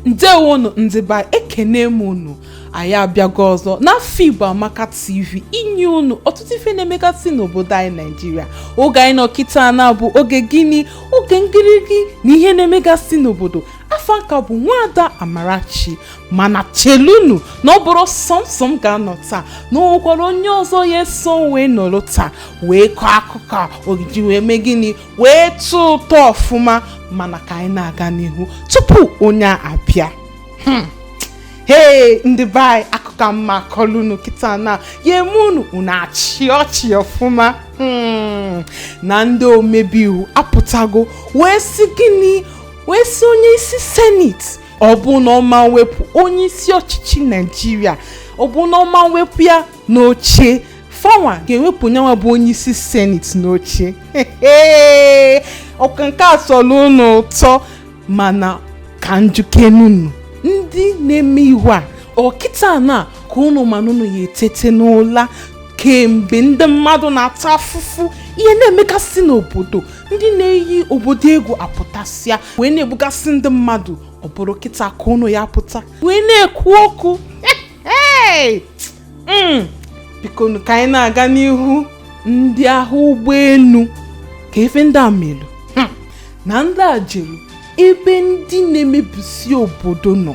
ndewonu ndị be anyị ekene m unu anyị abịago ọzọ na afigbo amaka tv inye unu ọtụtụ ife na-emegasị n'obodo anyị naijiria oge anyị nọ kịta na bụ oge gịnị oge ngịrịgị na ihe na-emegasị n'obodo afa m ka bụ nwaada amarachi mana chelunu na ọ bụrọ sọ m sọ m ga-anọ taa na o nwekwara onye ọzọ ya-eso wee nọrọ taa wee kọọ akụkọ a ọ ya-eji wee mee gịnị wee tụọ ụtọ ọfụma mana ka anyị na-aga n'ihu tupu onye a abịa Hmm. hee ndị be anyị akụkọ m ma-akọlụ unu kịta na ya-eme unu unu achịa ọchị ọfụma Hmm. na ndị omebi iwu apụtago wee sị gịnị wee sị onye isi seneti ọ bụ na ọ ma-ewepụ onye isi ọchịchị naijiria ọ bụ na ọ ma-ewepụ ya n'oche fa nwa ga-ewepụ nya nwa bụ onye isi seneti n'oche ọ kwa nke a sọlụ ụnụ ụtọ mana ka m jụkenụ ụnụ ndị na-eme ihe a ọ kịta na ka ụnụ ma na ụnụ ya-etete n'ụla kemgbe ndị mmadụ na-ata afụfụ ihe na-emegasị n'obodo ndị na-eyi obodo egwu apụtasịa wee na-egbugasị ndị mmadụ ọ bụrụ kịta ka ụnụ ya-apụta wee na-ekwu okwu mm. biko ka anyị na-aga n'ihu ndị agha ụgbọelu kee ife ndị a melu hmm. na ndị a jere ebe ndị na-emebisi obodo nọ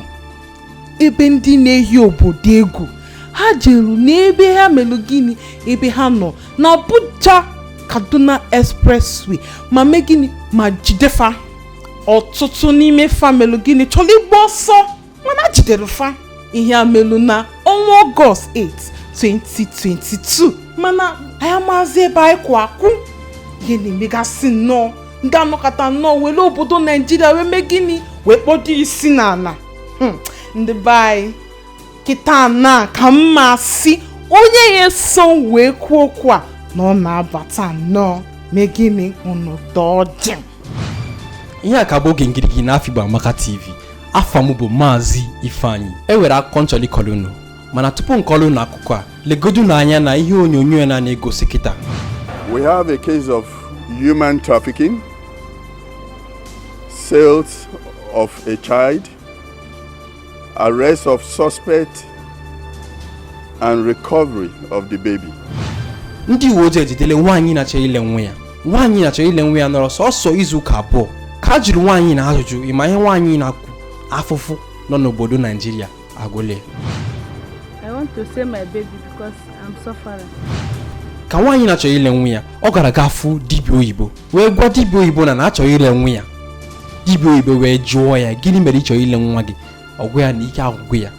ebe ndị na-eyi obodo egwu ha jeru n'ebe ha melụ gịnị ebe ha nọ na Abuja Kaduna Expressway ma mee gịnị ma jidefa ọtụtụ n'ime fa melụ gịnị chọrọ ịgba ọsọ mana e jidere fa ihe a melụ na ọnwa ọgọst 8 2022 mana anyị amazị ebe anyị kwụ akwụ ihe na-emegasị nnọọ ndị a anọkata nnọọ were obodo naijiria wee mee gịnị wee kpọdo isi n'ala hmm, ndị be anyị kịta na ka m ma-asị onye ya-eso wee kwuo okwu a na ọ na-abata nnọọ mee gịnị unu dọjị ihe a ka bụ oge ngirigi na Afigbo Amaka TV afa m bụ Maazị Ifeanyi e nwere akụkọ m chọlụ ịkọlụ unu mana tupu m kọlụ unu akụkọ a legodu n'anya na ihe onyonyo ya na na-egosi kịta we have a case of human trafficking sales of a child arrest of suspect and recovery of the baby ndị uwe ojii ejidele nwaanyị na-achọ ile nwa ya nwaanyị na-achọ ile nwa ya nọrọ sọsọ izu ụka abụọ ka a jụrụ nwaanyị na ajụjụ ị ma ihe nwaanyị na-ekwu afụfụ nọ n'obodo naijiria agụle ka nwaanyị na-achọ ile nwa ya ọ gara ga fụ dibịa oyibo wee gwa dibịa oyibo na na-achọ ile nwa ya dibịa oyibo wee jụọ ya gịnị mere ị chọrọ ile nwa gị ọ gwa ya na ike agwụgo ya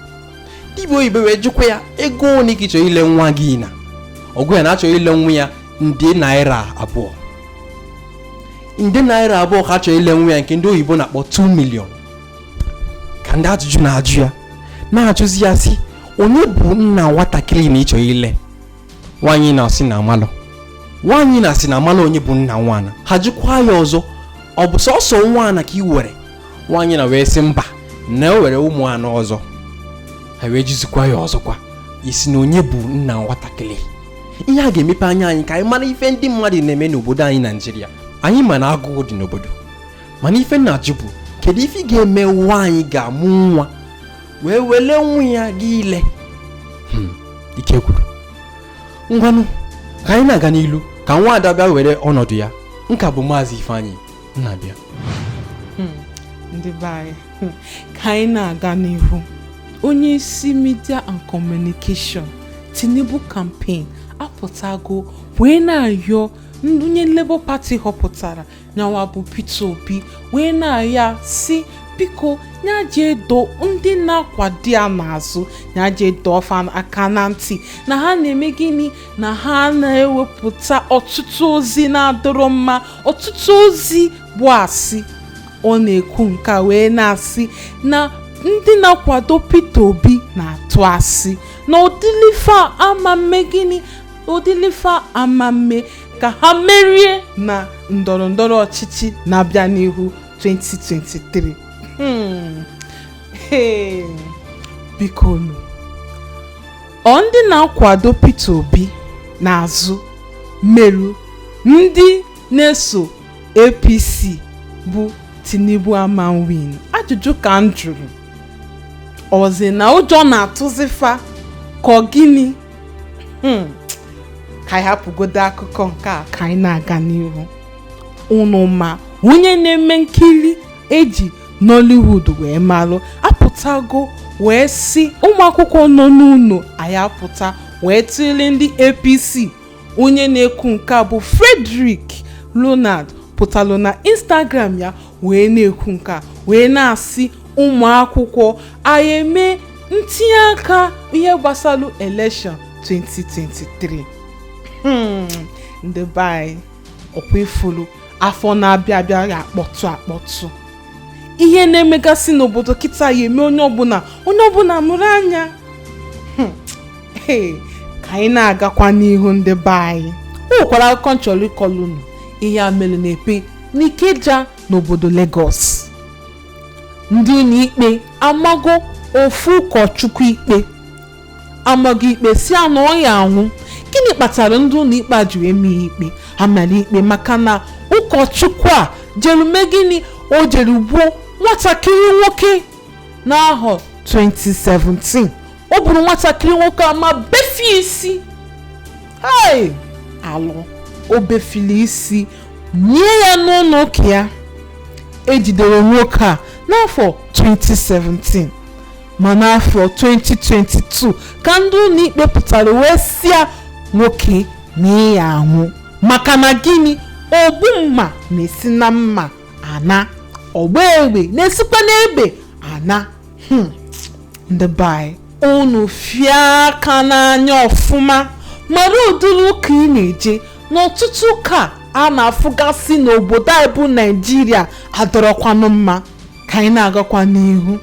dibịa oyibo wee jụkwa ya ego ole ka ị chọrọ ile nwa gị na ọ gwa ya na-achọ ile nwa ya nde naira abụọ nde naira abụọ ka ọ chọrọ ile nwa ya nke ndị oyibo na-akpọ 2 million ka ndị ajụjụ na-ajụ ya na-ajụzi ya sị onye bụ nna nwatakịrị na ị chọrọ ile nwaanyị na-asị na amarọ nwaanyị na-asị na amarọ onye bụ nna nwa na ha jụkwa ya ọzọ ọ bụ sọsọ nwa na ka ị nwere nwaanyị na wee sị mba na e nwere ụmụ anọ ọzọ ha wee jụzikwa ya ọzọkwa ị sị na onye bụ nna nwatakịrị ihe a ga-emepe anya anyị ka anyị mara ife ndị mmadụ na-eme n'obodo anyị naijiria anyị ma na agụụ dị n'obodo mana ife m na-ajụ bụ kedu ife ga-eme nwaanyị ga-amụ nwa wee wele nwa ya ga ile hmm, ike gwụrụ ngwanụ ka anyị na-aga n'ilu ka nwa ada bịa were ọnọdụ ya nka bụ maazị ifeanyị na-abịa hmm, ndị be anyị hmm, ka anyị na-aga n'ihu onye isi media and communication tinubu campaign apụtago wee na-ayọ onye labour party họpụtara nya wa bụ Peter Obi wee na-ayọ ya sị biko nya jee dọọ ndị na-akwado ya n'azụ nya jee dọọ fa aka na ntị na ha na-eme gịnị na ha na-ewepụta ọtụtụ ozi na-adịrọ mma ọtụtụ ozi bụ asị ọ na-ekwu nke a wee na-asị na ndị na-akwado Peter Obi na-atụ asị na ọ dịrọ ife ha ama mme gịnị ọ dịrọ ife ha ama mme ka ha merie na ndọrọ ndọrọ ọchịchị na-abịa n'ihu 2023 Hmm. Hey. biko nu ọ ndị na-akwado Peter Obi n'azụ meru ndị na-eso APC bụ Tinubu ama win ajụjụ ka m jụrụ ọzi na ụjọ na-atụzi fa ka ọ gịnị hmm. ka anyị hapụgodo akụkọ nke a ka anyị na-aga n'ihu unu ma onye na-eme nkiri eji Nollywood wee malụ apụtago wee sị ụmụakwụkwọ nọ n'ụlọ anyị apụta wee tụle ndị APC onye na-ekwu nke a bụ Frederick Leonard pụtalụ na Instagram ya wee na-ekwu nke a wee na-asị ụmụ akwụkwọ anyị eme ntinye aka ihe gbasalụ elekshọn 2023 hmm, ndị be anyị ọkwa ị fụlụ afọ na-abịa abịa ya akpọtụ akpọtụ ihe na-emegasị n'obodo kịta ya eme onye ọbụla onye ọbụla mụrụ anya hmm, ka anyị na-agakwa n'ihu ndị be anyị o nwekwara akụkọ m chọrọ ịkọlụ unu ihe a mere n'Epe n'Ikeja n'obodo Legọs. Ndị ụlọikpe amago ofu ụkọchukwu ikpe amago ikpe sị ya na ọ ya anwụ. Gịnị kpatara ndị ụlọikpe a ji wee maa ya ikpe amara ikpe maka na ụkọchukwu a jere mee gịnị o jere gbuo nwatakịrị nwoke n'ahọ 2017 o gburu nwatakịrị nwoke a ma befie isi hei alụ o befili isi nie ya n'ụlọ ụka ya e jidere nwoke a n'afọ 2017 ma n'afọ 2022 ka ndị ụlọikpe pụtara wee sịa nwoke na ị ya anwụ maka na gịnị ogbu mma na-esi na mma ana ọgba egbe na-esikwa n'egbe ana hmm, ndị be anyị unu fie aka n'anya ọfụma mara ụdịrị ụka ị na-eje na ọtụtụ ụka a na-afụgasị n'obodo anyị bụ naijiria adịrọkwanụ mma ka anyị na-agakwa n'ihu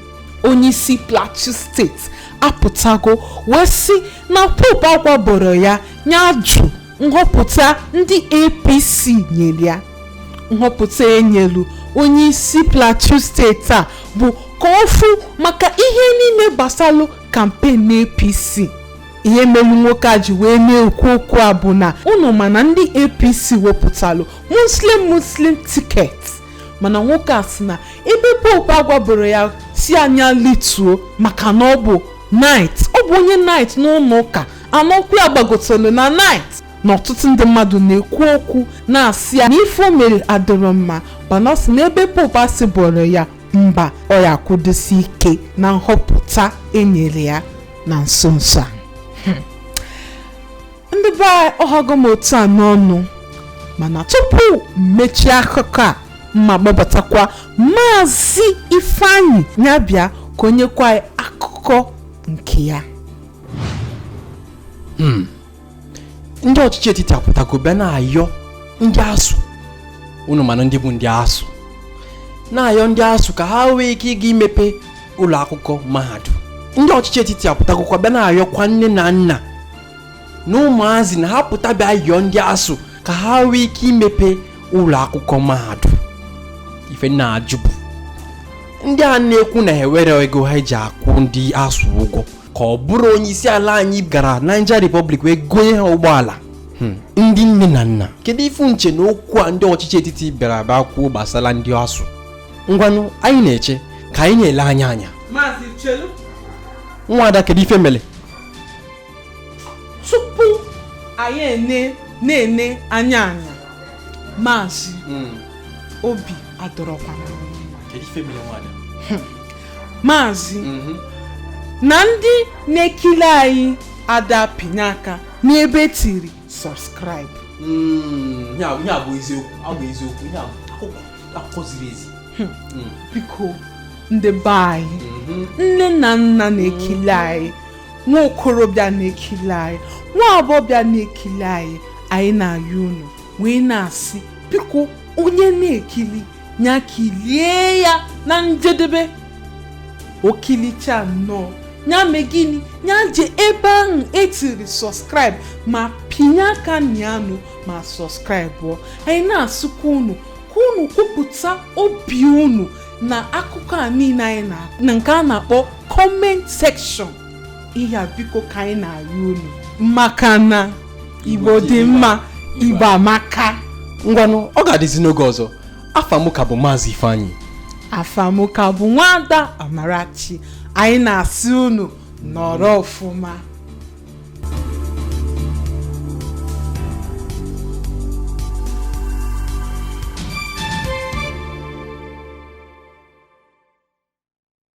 onyeisi plateau steeti apụtago wee sị na pope agwaboro ya nya jụ nhọpụta ndị apc nyere ya nhọpụta e nyelu onye isi plateau steeti a bụ ka ọ fụ maka ihe niile gbasalụ kampen na apc ihe melu nwoke a ji wee na-ekwu okwu a bụ na unu ma na ndị apc wepụtalụ muslim muslim tiket mana nwoke a sị na ebe pope agwaboro ya sị ya nya lituo maka na ọ bụ knight ọ bụ onye knight n'ụlọ ụka Na ọkwa ya gbagotelu na knight na ọtụtụ ndị mmadụ na-ekwu okwu na-asị ya na ife o mere adịrọ mma mana ọ sị na ebe pope asịboro ya mba ọ ya akwụdosi ike na nhọpụta e nyere ya na nso nso a ndị be anyị ọ hago m otu a n'ọnụ mana tupu m mechie akụkọ a mma gbabatakwa maazị ifeanyị nya bịa ka o nyekwa anyị akụkọ nke ya hmm. ndị ọchịchị etiti apụtago bịa na-ayọ ndị ASUU unu manụ ndị bụ ndị ASUU na-ayọ ndị ASUU ka ha nwee ike ịga imepe ụlọ akwụkwọ mahadum ndị ọchịchị etiti apụtagokwa bịa na-ayọkwa nne na nna na ụmụazị na ha pụta bịa yọọ ndị ASUU ka ha nwee ike imepe ụlọ akwụkwọ mahadum ife m na-ajụ bụ ndị a na-ekwu na ha enwerọ ego ha eji akwụ ndị ASUU ụgwọ ka ọ bụrụ onye isi ala anyị gara Niger Republic wee gonye ha ụgbọala hmm. ndị nne na nna kedu ife unu che na okwu a ndị ọchịchị etiti bịara abịa kwuo gbasara ndị ASUU ngwanụ anyị na-eche ka anyị na-ele anya anya nwada kedu ife mere tupu anyị ene na-ene anya anya maazị hmm. obi adịrọkwa hmm. maazị mhm. na ndị na-ekili anyị ada apịnye aka n'ebe e tiri subscribe hmm, ya bụ eziokwu ọ bụ eziokwu ya bụ akụkọ ziri ezi hmm. Hmm. biko ndị be anyị mhm. nne na nna na-ekili anyị nwa okorobịa na-ekili anyị nwa agbọbịa na-ekili anyị anyị na-ayọ unu wee na-asị biko onye na-ekili ya kilie ya na njedebe o kilichaa nnọọ ya mee gịnị ya je ebe ahụ e tiri subscribe ma pịnye aka na yanụ ma subscribe-ụọ anyị na-asịkwa unu ka unu kwupụta obi unu na akụkọ a niile anyị na na nke a na-akpọ comment section ihe a biko ka anyị na-arịọ unu maka na igbo dị mma igbo amaka ngwanụ ọ ga-adịzi n'oge ọzọ afa m ka bụ maazị ifeanyị afa mụ ka bụ nwada amarachi anyị na-asị unu nọrọ ọfụma